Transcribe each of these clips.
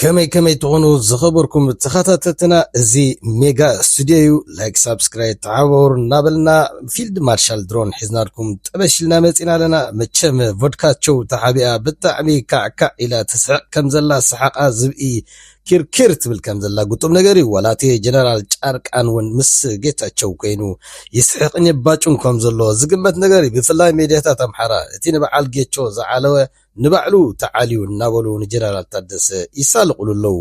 ከመይ ከመይ ትኾኑ ዝኸበርኩም ተኸታተልትና እዚ ሜጋ ስቱድዮ እዩ ላይክ ሳብስክራይብ ተዓባበሩ እናበልና ፊልድ ማርሻል ድሮን ሒዝናልኩም ጠበሽ ኢልና መፂና ኣለና መቸም ቮድካቸው ተሓቢኣ ብጣዕሚ ካዕካዕ ኢላ ትስሕቅ ከም ዘላ ሰሓቃ ዝብኢ ኪርኪር ትብል ከም ዘላ ግጡም ነገር እዩ ዋላ እቲ ጀነራል ጫርቃን እውን ምስ ጌታቸው ኮይኑ ይስሕቅን የባጩን ከም ዘሎ ዝግመት ነገር እዩ ብፍላይ ሜድያታት ኣምሓራ እቲ ንበዓል ጌቾ ዝዓለወ ንባዕሉ ተዓልዩ እናበሉ ንጀነራል ታደሰ ይሳለቑሉ ኣለዉ።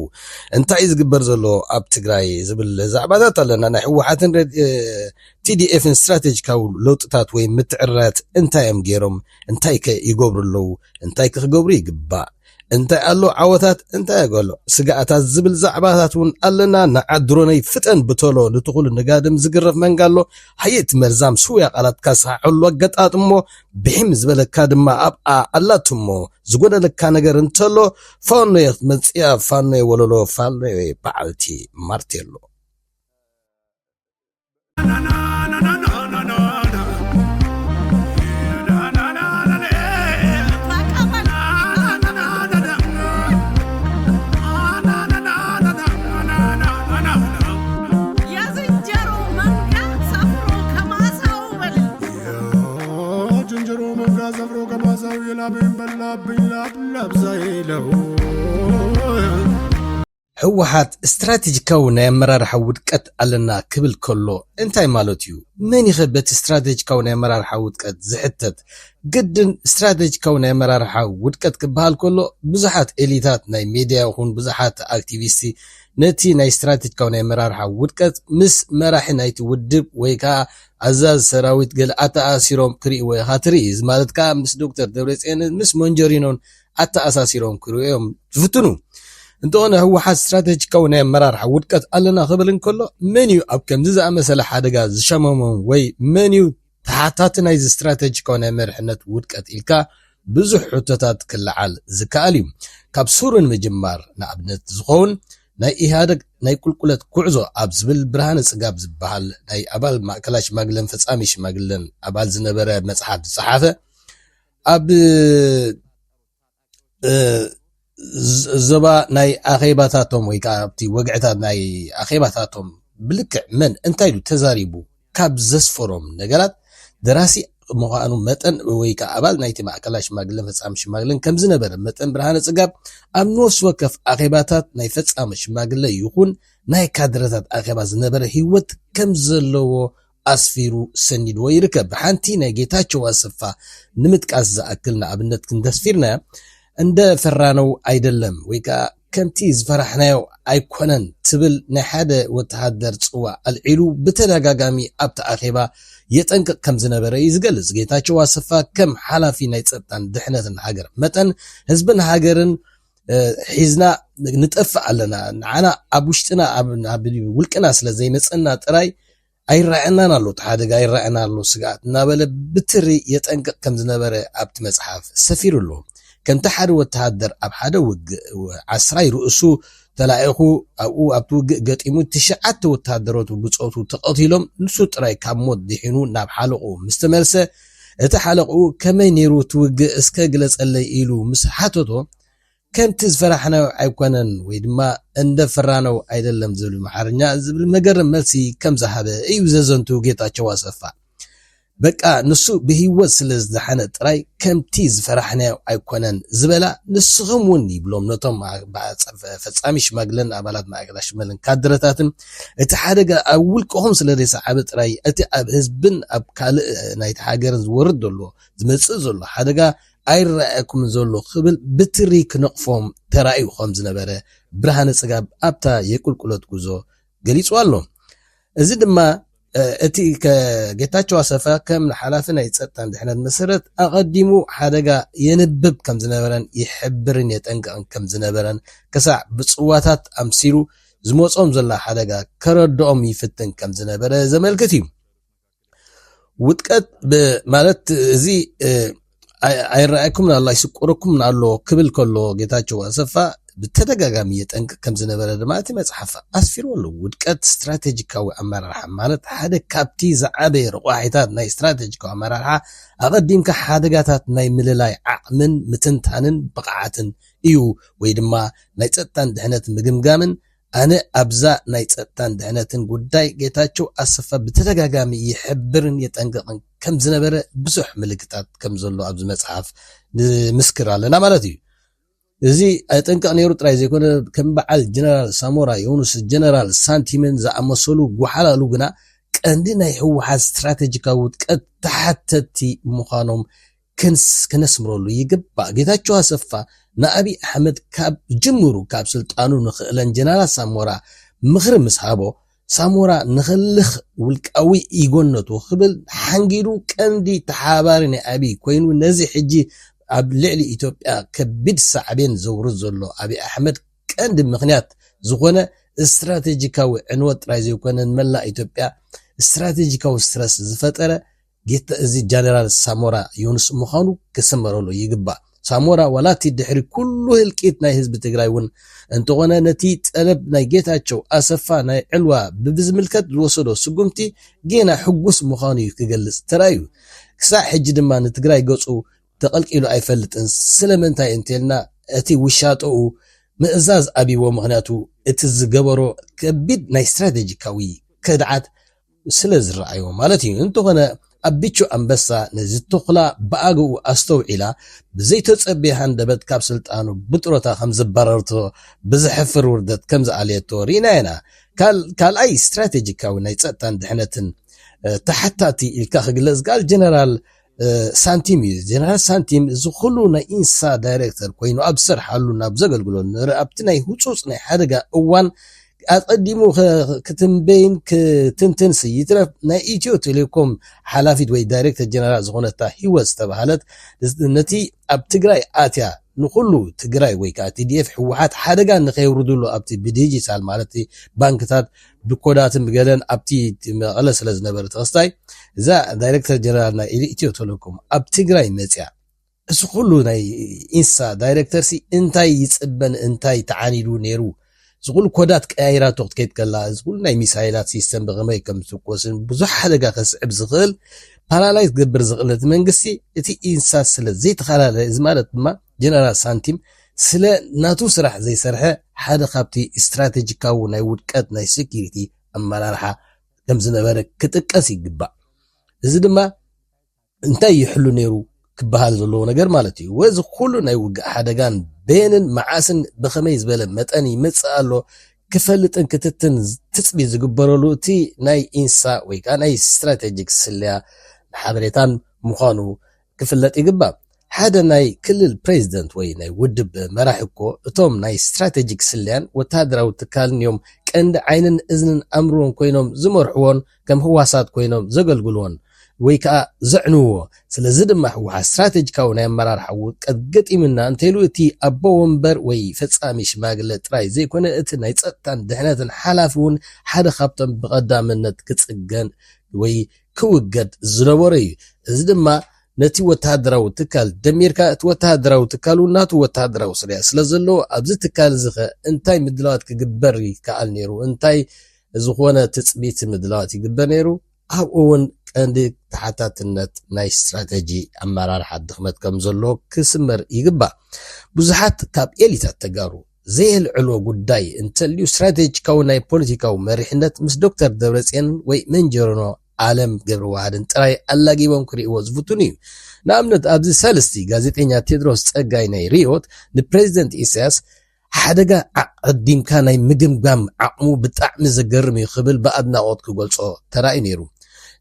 እንታይ እዩ ዝግበር ዘሎ ኣብ ትግራይ ዝብል ዛዕባታት ኣለና። ናይ ህወሓትን ቲዲኤፍን ስትራቴጂካዊ ለውጥታት ወይ ምትዕርራያት እንታይ እዮም ገይሮም? እንታይ ከ ይገብሩ ኣለዉ? እንታይ ከ ክገብሩ ይግባእ? እንታይ ኣሎ ዓወታት እንታይ ኣገሎ ስጋኣታት ዝብል ዛዕባታት እውን ኣለና ንዓት ድሮነይ ፍጠን ብተሎ ንትኹሉ ንጋድም ዝግረፍ መንጋ ኣሎ ሃየ እቲ መርዛም ስውያ ቃላትካ ስሓሐሉ ኣገጣጥሞ ብሒም ዝበለካ ድማ ኣብኣ ኣላቱ እሞ ዝጎደለካ ነገር እንተሎ ፋኖየ ክትመፅያ ፋኖየ ወለሎ ፋኖየ በዓልቲ ማርቴሎ ጅንጅሮ መንጋ ዘብሮ ገማዛዊ ላበይን በላብኝ ላብላብዛ ይለው ህወሓት ስትራቴጂካዊ ናይ ኣመራርሓ ውድቀት ኣለና ክብል ከሎ እንታይ ማለት እዩ? መን ይኸ በቲ ስትራቴጂካዊ ናይ ኣመራርሓ ውድቀት ዝሕተት? ግድን ስትራቴጂካዊ ናይ ኣመራርሓ ውድቀት ክበሃል ከሎ ብዙሓት ኤሊታት ናይ ሚድያ ይኹን ብዙሓት ኣክቲቪስቲ ነቲ ናይ ስትራቴጂካዊ ናይ ኣመራርሓ ውድቀት ምስ መራሒ ናይቲ ውድብ ወይ ከዓ ኣዛዝ ሰራዊት ገለ ኣተኣሲሮም ክሪእዎ ኢኻ ትርኢ እዚ ማለት ከኣ ምስ ዶክተር ደብረጽዮንን ምስ ሞንጆሪኖን ኣተኣሳሲሮም ክሪኡ እዮም ዝፍትኑ እንተኾነ ህወሓት ስትራተጂካዊ ናይ ኣመራርሓ ውድቀት ኣለና ክብል እንከሎ መን እዩ ኣብ ከምዚ ዝኣመሰለ ሓደጋ ዝሸመሞም ወይ መን እዩ ተሓታቲ ናይዚ ስትራተጂካዊ ናይ መርሕነት ውድቀት ኢልካ ብዙሕ ሕቶታት ክለዓል ዝከኣል እዩ ካብ ሱሩ ንምጅማር ንኣብነት ዝኸውን ናይ ኢህኣደግ ናይ ቁልቁለት ጉዕዞ ኣብ ዝብል ብርሃነ ፅጋብ ዝበሃል ናይ ኣባል ማእከላይ ሽማግለን ፈፃሚ ሽማግለን ኣባል ዝነበረ መፅሓፍ ዝፀሓፈ ኣብ ዞባ ናይ ኣኼባታቶም ወይ ከዓ ኣብቲ ወግዕታት ናይ ኣኼባታቶም ብልክዕ መን እንታይ ኢሉ ተዛሪቡ ካብ ዘስፈሮም ነገራት፣ ደራሲ ምዃኑ መጠን ወይ ከኣ ኣባል ናይቲ ማእከላይ ሽማግለን ፈጻሚ ሽማግለን ከም ዝነበረ መጠን ብርሃነ ጽጋብ ኣብ ንወሲ ወከፍ ኣኼባታት ናይ ፈጻሚ ሽማግለ ይኹን ናይ ካድረታት ኣኼባ ዝነበረ ህይወት ከም ዘለዎ ኣስፊሩ ሰኒድዎ ይርከብ። ሓንቲ ናይ ጌታቸው ኣሰፋ ንምጥቃስ ዝኣክል ንኣብነት ክንደስፊርናያ እንደ ፈራነው ኣይደለም ወይ ከኣ ከምቲ ዝፈራሕናዮ ኣይኮነን ትብል ናይ ሓደ ወተሃደር ጽዋእ ኣልዒሉ ብተደጋጋሚ ኣብቲ ኣኼባ የጠንቅቕ ከም ዝነበረ እዩ ዝገልጽ። ጌታቸው ኣሰፋ ከም ሓላፊ ናይ ጸጥታን ድሕነትን ሃገር መጠን ህዝብን ሃገርን ሒዝና ንጠፍእ ኣለና፣ ንዓና ኣብ ውሽጥና ኣብ ውልቅና ስለ ዘይመጸና ጥራይ ኣይረኣየናን ኣሎ፣ እቲ ሓደጋ ይረኣየና ኣሎ ስግኣት እናበለ ብትሪ የጠንቅቕ ከም ዝነበረ ኣብቲ መጽሓፍ ሰፊሩ ኣሎ። ከምቲ ሓደ ወተሃደር ኣብ ሓደ ውግእ ዓስራይ ርእሱ ተላኢኹ ኣብኡ ኣብቲ ውግእ ገጢሙ ትሽዓተ ወተሃደራቱ ብጾቱ ተቐቲሎም ንሱ ጥራይ ካብ ሞት ድሒኑ ናብ ሓለቕኡ ምስ ተመልሰ እቲ ሓለቕኡ ከመይ ነይሩ እቲ ውግእ እስከ ግለጸለይ ኢሉ ምስ ሓተቶ ከምቲ ዝፈራሕናዮ ኣይኮነን ወይ ድማ እንደ ፈራነው ኣይደለም ዝብል ኣምሓርኛ ዝብል መገርም መልሲ ከም ዝሃበ እዩ ዘዘንቱ ጌታቸው ኣሰፋ። በቃ ንሱ ብህይወት ስለ ዝደሓነ ጥራይ ከምቲ ዝፈራሕናዮ ኣይኮነን ዝበላ ንስኹም እውን ይብሎም ነቶም ፈጻሚ ሽማግለን ኣባላት ማእከላይ ሽመልን ካድረታትን እቲ ሓደጋ ኣብ ውልቅኹም ስለ ዘይሰዓበ ጥራይ እቲ ኣብ ህዝብን ኣብ ካልእ ናይቲ ሃገርን ዝወርድ ዘሎ ዝመጽእ ዘሎ ሓደጋ ኣይረኣየኩምን ዘሎ ክብል ብትሪ ክነቕፎም ተራእዩ ከም ዝነበረ ብርሃነ ጽጋብ ኣብታ የቁልቁለት ጉዞ ገሊጹ ኣሎ። እዚ ድማ እቲ ጌታቸው ኣሰፋ ከም ሓላፊ ናይ ጸጥታን ድሕነት መሰረት ኣቐዲሙ ሓደጋ የንብብ ከም ዝነበረን ይሕብርን የጠንቅቕን ከም ዝነበረን ክሳዕ ብጽዋታት ኣምሲሉ ዝመጾም ዘሎ ሓደጋ ከረድኦም ይፍትን ከም ዝነበረ ዘመልክት እዩ። ውጥቀት ማለት እዚ ኣይረኣየኩምን ኣሎ ኣይስቆረኩምን ኣሎ ክብል ከሎ ጌታቸው ኣሰፋ ብተደጋጋሚ የጠንቅቅ ከም ዝነበረ ድማ እቲ መፅሓፍ ኣስፊሩ ኣሎ ውድቀት ስትራቴጂካዊ ኣመራርሓ ማለት ሓደ ካብቲ ዝዓበየ ረቋሒታት ናይ ስትራቴጂካዊ ኣመራርሓ ኣቐዲምካ ሓደጋታት ናይ ምልላይ ዓቕምን ምትንታንን ብቕዓትን እዩ ወይ ድማ ናይ ፀጥታን ድሕነት ምግምጋምን ኣነ ኣብዛ ናይ ፀጥታን ድሕነትን ጉዳይ ጌታቸው ኣሰፋ ብተደጋጋሚ ይሕብርን የጠንቅቕን ከምዝነበረ ብዙሕ ምልክታት ከምዘሎ ኣብዚ መፅሓፍ ንምስክር ኣለና ማለት እዩ። እዚ ኣይጠንቀቕ ነይሩ ጥራይ ዘይኮነ ከም በዓል ጀነራል ሳሞራ የውኑስ ጀነራል ሳንቲምን ዝኣመሰሉ ጎሓላሉ ግና ቀንዲ ናይ ህወሓት ስትራቴጂካዊ ውድቀት ተሓተትቲ ምዃኖም ከነስምረሉ ይግባእ። ጌታቸው ኣሰፋ ንኣብይ ኣሕመድ ካብ ጅምሩ ካብ ስልጣኑ ንክእለን ጀነራል ሳሞራ ምኽሪ ምስ ሃቦ ሳሞራ ንክልኽ ውልቃዊ ኢጎነቱ ክብል ሓንጊዱ ቀንዲ ተሓባባሪ ናይ ኣብይ ኮይኑ ነዚ ሕጂ ኣብ ልዕሊ ኢትዮጵያ ከቢድ ሳዕቤን ዘውርድ ዘሎ ኣብይ ኣሕመድ ቀንዲ ምክንያት ዝኾነ ስትራቴጂካዊ ዕንወት ጥራይ ዘይኮነ ንመላእ ኢትዮጵያ ስትራቴጂካዊ ስትረስ ዝፈጠረ ጌታ እዚ ጃነራል ሳሞራ ዮኑስ ምዃኑ ክስመረሉ ይግባእ። ሳሞራ ዋላ እቲ ድሕሪ ኩሉ ህልቂት ናይ ህዝቢ ትግራይ እውን እንተኾነ ነቲ ጠለብ ናይ ጌታቸው ኣሰፋ ናይ ዕልዋ ብብዝምልከት ዝወሰዶ ስጉምቲ ጌና ሕጉስ ምዃኑ እዩ ክገልፅ ተራእዩ። ክሳዕ ሕጂ ድማ ንትግራይ ገፁ ተቐልቂሉ ኣይፈልጥን። ስለምንታይ እንተልና እቲ ውሻጠኡ ምእዛዝ ኣብይዎ ምኽንያቱ እቲ ዝገበሮ ከቢድ ናይ ስትራቴጂካዊ ከድዓት ስለ ዝረኣይዎ ማለት እዩ። እንተኾነ ኣቢቹ ኣንበሳ ነዚ ቶኽላ ብኣግኡ ኣስተውዒላ ብዘይተጸብየ ሃንደበት ካብ ስልጣኑ ብጥሮታ ከም ዘባረረቶ ብዘሕፍር ውርደት ከም ዝኣለየቶ ርኢና ኢና። ካልኣይ ስትራቴጂካዊ ናይ ጸጥታን ድሕነትን ተሓታቲ ኢልካ ክግለጽ ዝከኣል ጀነራል ሳንቲም እዩ ጀነራል ሳንቲም እዚ ኩሉ ናይ ኢንሳ ዳይሬክተር ኮይኑ ኣብ ዝሰርሓሉ ናብ ዘገልግሎ ኣብቲ ናይ ህፁፅ ናይ ሓደጋ እዋን ኣቀዲሙ ክትንበይን ክትንትን ይትረፍ ናይ ኢትዮ ቴሌኮም ሓላፊት ወይ ዳይሬክተር ጀነራል ዝኾነታ ሂወት ዝተባሃለት ነቲ ኣብ ትግራይ ኣትያ ንኩሉ ትግራይ ወይ ከዓ ቲዲኤፍ ህወሓት ሓደጋ ንከይውርድሉ ኣብቲ ብዲጂታል ማለት ባንክታት ብኮዳትን ብገለን ኣብቲ መቐለ ስለ ዝነበረ ተኸስታይ እዛ ዳይረክተር ጀነራል ናይ ኢትዮ ቴሌኮም ኣብ ትግራይ መፅያ እዚ ኩሉ ናይ ኢንሳ ዳይረክተርሲ እንታይ ይፅበን እንታይ ተዓኒዱ ነይሩ እዚ ኩሉ ኮዳት ቀያይራቶ ክትከይድ ከላ እዚ ኩሉ ናይ ሚሳይላት ሲስተም ብኸመይ ከም ዝትኮስን ብዙሕ ሓደጋ ከስዕብ ዝኽእል ፓራላይዝ ክገብር ዝኽእል እቲ መንግስቲ እቲ ኢንሳ ስለ ዘይተፈላለየ እዚ ማለት ድማ ጀነራል ሳንቲም ስለ ናቱ ስራሕ ዘይሰርሐ ሓደ ካብቲ ስትራቴጂካዊ ናይ ውድቀት ናይ ሴኩሪቲ ኣመራርሓ ከምዝነበረ ክጥቀስ ይግባእ። እዚ ድማ እንታይ ይሕሉ ነይሩ ክበሃል ዘለዎ ነገር ማለት እዩ። ወዚ ኩሉ ናይ ውግእ ሓደጋን በየንን መዓስን ብኸመይ ዝበለ መጠን ይመጽእ ኣሎ ክፈልጥን ክትትን ትጽቢት ዝግበረሉ እቲ ናይ ኢንሳ ወይ ከዓ ናይ ስትራቴጂክ ስለያ ሓበሬታን ምዃኑ ክፍለጥ ይግባእ ሓደ ናይ ክልል ፕሬዚደንት ወይ ናይ ውድብ መራሒ እኮ እቶም ናይ ስትራቴጂክ ስለያን ወተሃደራዊ ትካልን እዮም ቀንዲ ዓይንን እዝንን ኣምርዎን ኮይኖም ዝመርሕዎን ከም ህዋሳት ኮይኖም ዘገልግልዎን ወይ ከዓ ዘዕንውዎ ስለዚ ድማ ህወሓት ስትራቴጂካዊ ናይ ኣመራርሓ ውድቀት ገጢምና እንተይሉ እቲ ኣቦ ወንበር ወይ ፈፃሚ ሽማግለ ጥራይ ዘይኮነ እቲ ናይ ፀጥታን ድሕነትን ሓላፊ እውን ሓደ ካብቶም ብቀዳምነት ክፅገን ወይ ክውገድ ዝነበሮ እዩ። እዚ ድማ ነቲ ወተሃደራዊ ትካል ደሚርካ እቲ ወተሃደራዊ ትካል እውን ናቱ ወተሃደራዊ ስርሒት ስለ ዘለዎ ኣብዚ ትካል እዚ ከ እንታይ ምድላዋት ክግበር ይከኣል ነይሩ እንታይ ዝኾነ ትፅቢት ምድላዋት ይግበር ነይሩ ኣብኡ እውን ቀንዲ ተሓታትነት ናይ ስትራተጂ ኣመራርሓ ድኽመት ከም ዘሎ ክስመር ይግባእ። ብዙሓት ካብ ኤሊታት ተጋሩ ዘየልዕሎ ጉዳይ እንተልዩ ስትራቴጂካዊ ናይ ፖለቲካዊ መሪሕነት ምስ ዶክተር ደብረጽዮንን ወይ መንጀርኖ ኣለም ገብረዋህድን ጥራይ ኣላጊቦም ክርእይዎ ዝፍትኑ እዩ። ንኣብነት ኣብዚ ሳልስቲ ጋዜጠኛ ቴድሮስ ጸጋይ ናይ ርዮት ንፕረዚደንት ኢሳያስ ሓደጋ ኣቐዲምካ ናይ ምግምጋም ዓቕሙ ብጣዕሚ ዘገርም እዩ ክብል ብኣድናቖት ክገልጾ ተራእዩ ነይሩ።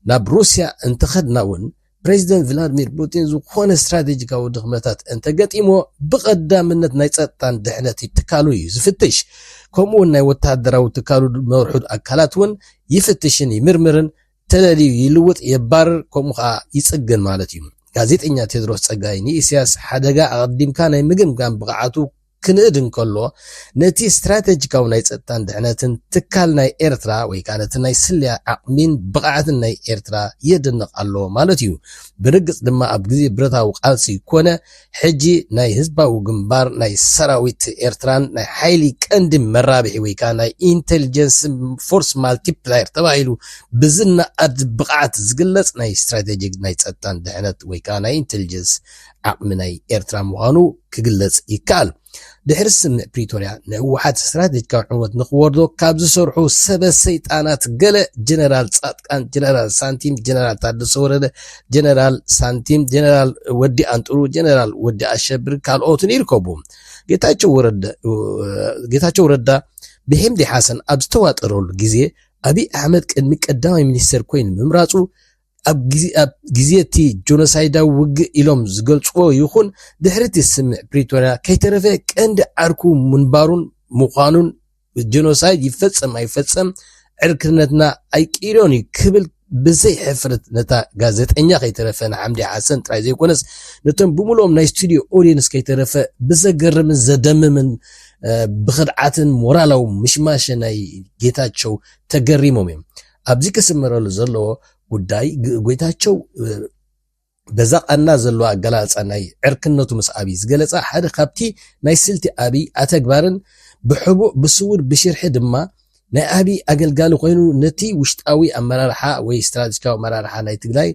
ናብ ሩስያ እንተኸድና እውን ፕረዚደንት ቭላድሚር ፑቲን ዝኾነ ስትራቴጂካዊ ድኽመታት እንተገጢሞ ብቐዳምነት ናይ ጸጥታን ድሕነት ትካሉ እዩ ዝፍትሽ ከምኡውን ናይ ወተሃደራዊ ትካሉ መርሑ ኣካላት እውን ይፍትሽን ይምርምርን ተለልዩ ይልውጥ የባርር ከምኡ ከዓ ይጽግን ማለት እዩ ጋዜጠኛ ቴድሮስ ጸጋይ ንኢስያስ ሓደጋ ኣቐዲምካ ናይ ምግምጋም ብቕዓቱ ክንእድ እንከሎ፣ ነቲ ስትራተጂካዊ ናይ ጸጥታን ድሕነትን ትካል ናይ ኤርትራ ወይ ከኣ ነቲ ናይ ስለያ ዓቕሚን ብቕዓትን ናይ ኤርትራ የድንቕ ኣሎ ማለት እዩ። ብርግጽ ድማ ኣብ ግዜ ብረታዊ ቃልሲ ኮነ ሕጂ ናይ ህዝባዊ ግንባር ናይ ሰራዊት ኤርትራን ናይ ሓይሊ ቀንዲ መራብሒ ወይ ከኣ ናይ ኢንተልጀንስ ፎርስ ማልቲፕላየር ተባሂሉ ብዝነኣድ ብቕዓት ዝግለጽ ናይ ስትራተጂክ ናይ ጸጥታን ድሕነት ወይ ከኣ ናይ ኢንተልጀንስ ዓቕሚ ናይ ኤርትራ ምዃኑ ክግለጽ ይከኣል። ድሕሪ ስምምዕ ፕሪቶርያ ንህወሓት ስትራቴጂካዊ ዕንወት ንኽወርዶ ካብ ዝሰርሑ ሰበ ሰይጣናት ገለ ጀነራል ጻድቃን፣ ጀነራል ሳንቲም፣ ጀነራል ታደሰ ወረደ፣ ጀነራል ሳንቲም፣ ጀነራል ወዲ ኣንጥሩ፣ ጀነራል ወዲ ኣሸብር ካልኦትን ይርከቡ። ጌታቸው ረዳ ብሄምዲ ሓሰን ኣብ ዝተዋጠረሉ ግዜ ኣብይ ኣሕመድ ቅድሚ ቀዳማይ ሚኒስተር ኮይኑ ምምራጹ ኣብ ግዜ እቲ ጆኖሳይዳዊ ውግእ ኢሎም ዝገልጽዎ ይኹን ድሕሪ እቲ ስምምዕ ፕሪቶርያ ከይተረፈ ቀንዲ ዓርኩ ምንባሩን ምዃኑን ጆኖሳይድ ይፈጸም ኣይፈጸም ዕርክነትና ኣይቅይሮን እዩ ክብል ብዘይ ሕፍረት ነታ ጋዜጠኛ ከይተረፈ ንሓምዲ ሓሰን ጥራይ ዘይኮነስ ነቶም ብምሉኦም ናይ ስቱድዮ ኦዲየንስ ከይተረፈ ብዘገርምን ዘደምምን ብክድዓትን ሞራላዊ ምሽማሸ ናይ ጌታቸው ተገሪሞም እዮም ኣብዚ ክስመረሉ ዘለዎ ጉዳይ ጎይታቸው በዛ ቃና ዘለዎ ኣገላልፃ ናይ ዕርክነቱ ምስ ኣብይ ዝገለፃ ሓደ ካብቲ ናይ ስልቲ ኣብይ ኣተግባርን ብሕቡእ ብስውር ብሽርሒ ድማ ናይ ኣብይ ኣገልጋሊ ኮይኑ ነቲ ውሽጣዊ ኣመራርሓ ወይ ስትራቴጂካዊ ኣመራርሓ ናይ ትግራይ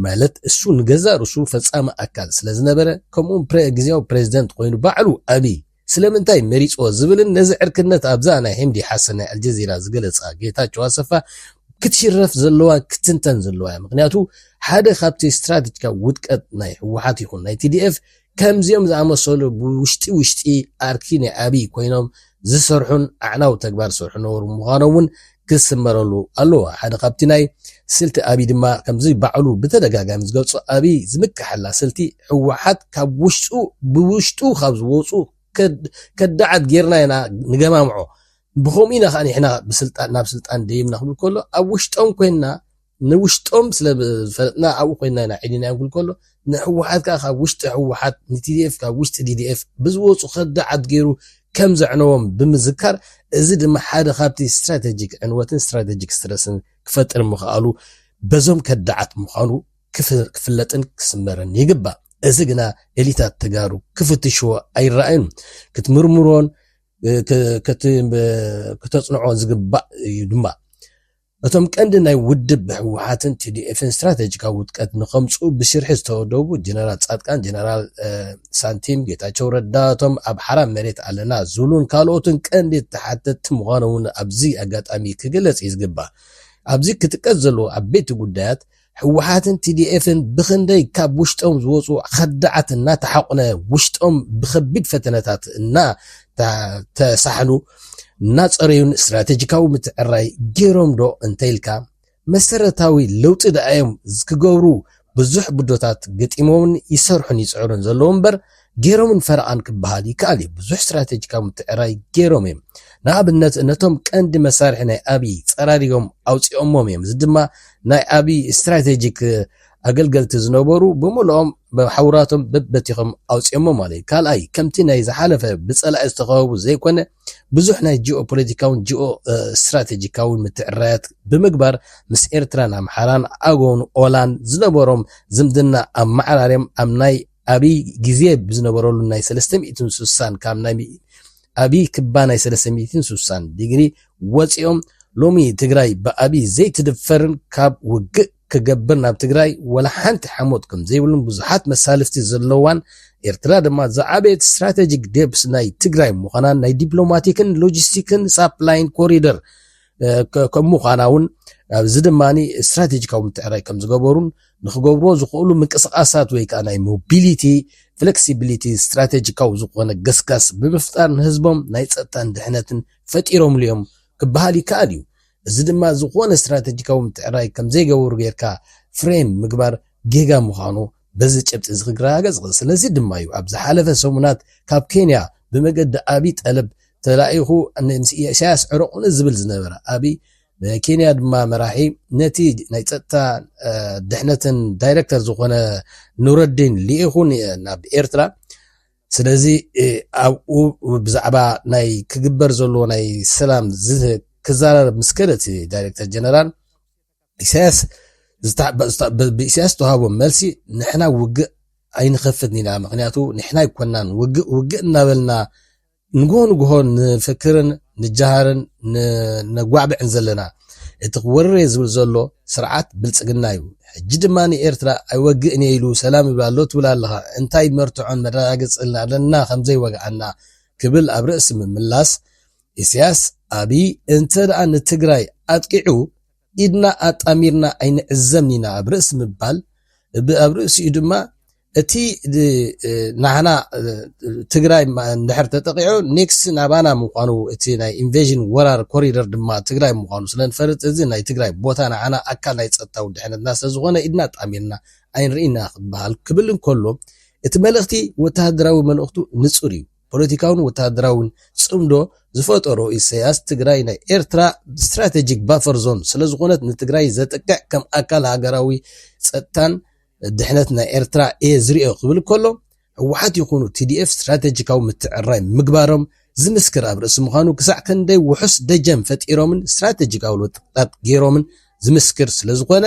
ማለት እሱ ንገዛ ርሱ ፈፃሚ ኣካል ስለዝነበረ ከምኡውን ግዜያዊ ፕሬዚደንት ኮይኑ ባዕሉ ኣብይ ስለምንታይ መሪጽዎ ዝብልን ነዚ ዕርክነት ኣብዛ ናይ ህምዲ ሓሰን ናይ ኣልጀዚራ ዝገለጻ ጌታቸው ኣሰፋ ክትሽረፍ ዘለዋ ክትንተን ዘለዋ እያ ምክንያቱ ሓደ ካብቲ ስትራትጅካ ውድቀት ናይ ህወሓት ይኹን ናይ ቲዲኤፍ ከምዚኦም ዝኣመሰሉ ብውሽጢ ውሽጢ ኣርኪ ናይ ኣብይ ኮይኖም ዝሰርሑን ኣዕናዊ ተግባር ዝሰርሑ ነበሩ ምዃኖም እውን ክስመረሉ ኣለዎ። ሓደ ካብቲ ናይ ስልቲ ኣብይ ድማ ከምዚ ባዕሉ ብተደጋጋሚ ዝገልፆ ኣብይ ዝምከሐላ ስልቲ ህወሓት ካብ ውሽጡ ብውሽጡ ካብ ዝወፁ ከዳዓት ገይርና ኢና ንገማምዖ ብኸምኡ ኢና ከዓ ንሕና ናብ ስልጣን ደይብና ክብል ከሎ ኣብ ውሽጦም ኮይንና ንውሽጦም ስለ ዝፈለጥና ኣብኡ ኮይና ኢና ዒኒና ክንብል ከሎ ንሕወሓት ከኣ ካብ ውሽጢ ሕወሓት ንቲዲኤፍ ካብ ውሽጢ ዲዲኤፍ ብዝወጹ ከዳዓት ገይሩ ከም ዘዕነዎም ብምዝካር እዚ ድማ ሓደ ካብቲ ስትራተጂክ ዕንወትን ስትራተጂክ ስትረስን ክፈጥር ምኽኣሉ በዞም ከዳዓት ምዃኑ ክፍለጥን ክስመርን ይግባእ። እዚ ግና ኤሊታት ተጋሩ ክፍትሽዎ ኣይረኣዩን ክትምርምሮን ከተጽንዖ ዝግባእ እዩ ድማ እቶም ቀንዲ ናይ ውድብ ህወሓትን ቲዲኤፍን ስትራቴጂካዊ ውድቀት ንኸምፅኡ ብሽርሒ ዝተወደቡ ጀነራል ፃድቃን፣ ጀነራል ሳንቲም፣ ጌታቸው ረዳ፣ እቶም ኣብ ሓራ መሬት ኣለና ዝብሉን ካልኦትን ቀንዲ ተሓተትቲ ምዃኖም እውን ኣብዚ ኣጋጣሚ ክግለፅ እዩ ዝግባእ። ኣብዚ ክጥቀስ ዘለዎ ዓበይቲ ጉዳያት ህወሓትን ቲዲኤፍን ብኽንደይ ካብ ውሽጦም ዝወፁ ኸዳዓት እናተሓቑነ ውሽጦም ብኸቢድ ፈተነታት እናተሳሕሉ እናፀረዩን ስትራቴጂካዊ ምትዕርራይ ገይሮም ዶ እንተይልካ መሰረታዊ ለውጢ ድኣ እዮም ክገብሩ ብዙሕ ብዶታት ገጢሞምን ይሰርሑን ይፅዕሩን ዘለዉ እምበር ገይሮምን ፈረቓን ክበሃል ይከኣል እዩ። ብዙሕ ስትራቴጂካዊ ምትዕርራይ ገይሮም እዮም። ንኣብነት ነቶም ቀንዲ መሳርሒ ናይ ኣብይ ፀራሪጎም ኣውፂኦሞም እዮም። እዚ ድማ ናይ ኣብይ ስትራቴጂክ ኣገልገልቲ ዝነበሩ ብምልኦም ሓውራቶም በበቲኾም ኣውፂኦሞ ማለት እዩ። ካልኣይ ከምቲ ናይ ዝሓለፈ ብፀላኢ ዝተኸበቡ ዘይኮነ ብዙሕ ናይ ጂኦ ፖለቲካውን ጂኦ ስትራቴጂካውን ምትዕርራያት ብምግባር ምስ ኤርትራን ኣምሓራን ኣጎን ኦላን ዝነበሮም ዝምድና ኣመዓራርዮም ኣብ ናይ ኣብይ ግዜ ብዝነበረሉ ናይ ሰለስተ ሚእትን ስሳን ካብ ናይ ኣብይ ክባ ናይ ሰለስተ ሚእትን ስሳን ዲግሪ ወጺኦም ሎሚ ትግራይ ብኣብይ ዘይትድፈርን ካብ ውግእ ክገብር ናብ ትግራይ ወላ ሓንቲ ሓሞት ከምዘይብሉን ብዙሓት መሳልፍቲ ዘለዋን ኤርትራ ድማ ዝዓበየት ስትራቴጂክ ዴፕስ ናይ ትግራይ ምዃናን ናይ ዲፕሎማቲክን ሎጂስቲክን ሳፕላይን ኮሪደር ከም ምዃና እውን ኣብዚ ድማ ስትራቴጂካዊ ምትዕራይ ከም ዝገበሩን ንክገብርዎ ዝኽእሉ ምንቅስቓሳት ወይ ከኣ ናይ ሞቢሊቲ ፍለክሲቢሊቲ ስትራቴጂካዊ ዝኾነ ገስጋስ ብምፍጣር ንህዝቦም ናይ ጸጥታን ድሕነትን ፈጢሮምሉ እዮም ክበሃል ይከኣል እዩ። እዚ ድማ ዝኾነ ስትራቴጂካዊ ምትዕርራይ ከምዘይገበሩ ጌርካ ፍሬም ምግባር ጌጋ ምዃኑ በዚ ጭብጢ እዚ ክረጋገጽ ይኽእል። ስለዚ ድማ እዩ ኣብ ዝሓለፈ ሰሙናት ካብ ኬንያ ብመገዲ ኣብይ ጠለብ ተላኢኹ ምስ ኢሳያስ ዕረቑኒ ዝብል ዝነበረ። ኣብይ ብኬንያ ድማ መራሒ ነቲ ናይ ጸጥታ ድሕነትን ዳይረክተር ዝኾነ ኑረዲን ልኢኹ ናብ ኤርትራ ስለዚ ኣብኡ ብዛዕባ ናይ ክግበር ዘለዎ ናይ ሰላም ክዛረብ ምስ ከደ እቲ ዳይረክተር ጀነራል ኢሳያስ ብኢሳያስ ዝተዋሃቦ መልሲ ንሕና ውግእ ኣይንኸፍትን ኢና ምክንያቱ ንሕና ኣይኮናን ውግእ ውግእ እናበልና ንግሆ ንግሆ ንፍክርን ንጃሃርን ነጓዕብዕን ዘለና እቲ ክወርርየ ዝብል ዘሎ ስርዓት ብልጽግና እዩ። ሕጂ ድማ ንኤርትራ ኣይወግእን እየ ኢሉ ሰላም ይብል ኣሎ ትብል ኣለኻ። እንታይ መርትዖን መረጋገጽን ኣለና ከም ዘይወግኣና ክብል ኣብ ርእሲ ምምላስ፣ ኢሳያስ ኣቢይ እንተድኣ ንትግራይ ኣጥቂዑ፣ ኢድና ኣጣሚርና ኣይንዕዘምን ኢና ኣብ ርእሲ ምባል፣ ኣብ ርእሲኡ ድማ እቲ ናህና ትግራይ እንድሕር ተጠቒዑ ኔክስት ናባና ምዃኑ እቲ ናይ ኢንቬዥን ወራር ኮሪደር ድማ ትግራይ ምዃኑ ስለንፈልጥ እዚ ናይ ትግራይ ቦታ ንዓና ኣካል ናይ ጸጥታዊ ድሕነትና ስለዝኾነ ኢድና ኣጣሚርና ኣይንርእይን ኢና ክበሃል ክብል እንከሎ እቲ መልእኽቲ ወተሃደራዊ መልእኽቱ ንጹር እዩ። ፖለቲካውን ወተሃደራውን ጽምዶ ዝፈጠሮ ኢሰያስ ትግራይ ናይ ኤርትራ ስትራተጂክ ባፈር ዞን ስለዝኾነት ንትግራይ ዘጥቅዕ ከም ኣካል ሃገራዊ ጸጥታን ድሕነት ናይ ኤርትራ እየ ዝሪኦ ክብል ከሎ ህወሓት ይኹኑ ቲዲኤፍ ስትራተጂካዊ ምትዕርራይ ምግባሮም ዝምስክር ኣብ ርእሲ ምዃኑ ክሳዕ ክንደይ ውሑስ ደጀን ፈጢሮምን ስትራተጂካዊ ለውጥታት ገይሮምን ዝምስክር ስለዝኾነ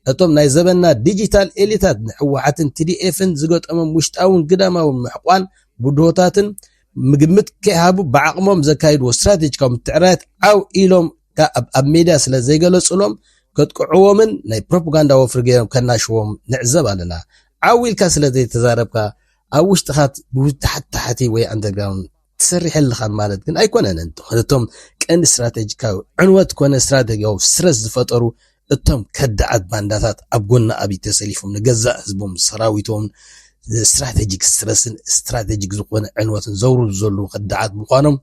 ነቶም ናይ ዘበንና ዲጂታል ኤሊታት ንሕወሓትን ቲዲኤፍን ዝገጠሞም ውሽጣውን ግዳማውን ምሕቋን ብድሆታትን ምግምት ከይሃቡ ብዓቕሞም ዘካይድዎ ስትራቴጂካዊ ምትዕርራያት ዓው ኢሎም ከኣ ኣብ ሜድያ ስለ ዘይገለጹሎም ከጥቅዕዎምን ናይ ፕሮፓጋንዳ ወፍሪ ገይሮም ከናሽዎም ንዕዘብ ኣለና። ዓው ኢልካ ስለ ዘይተዛረብካ ኣብ ውሽጥኻ ብታሕቲ ታሕቲ ወይ ኣንደርግራውንድ ትሰርሕ ኣለኻ ማለት ግን ኣይኮነን እንቶ እቶም ቀንዲ ስትራተጂካዊ ዕንወት ኮነ ስትራተጂያዊ ስትረስ ዝፈጠሩ እቶም ከዳዓት ባንዳታት ኣብ ጎኒ ኣብይ ተሰሊፎም ንገዛእ ህዝቦም ሰራዊቶም ስትራቴጂክ ስትረስን ስትራቴጂክ ዝኾነ ዕንወትን ዘውርዱ ዘለዉ ከዳዓት ምዃኖም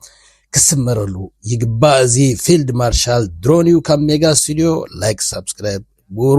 ክስመረሉ ይግባእ። እዚ ፊልድ ማርሻል ድሮን እዩ ካብ ሜጋ ስቱዲዮ። ላይክ ሳብስክራይብ ግበሩ።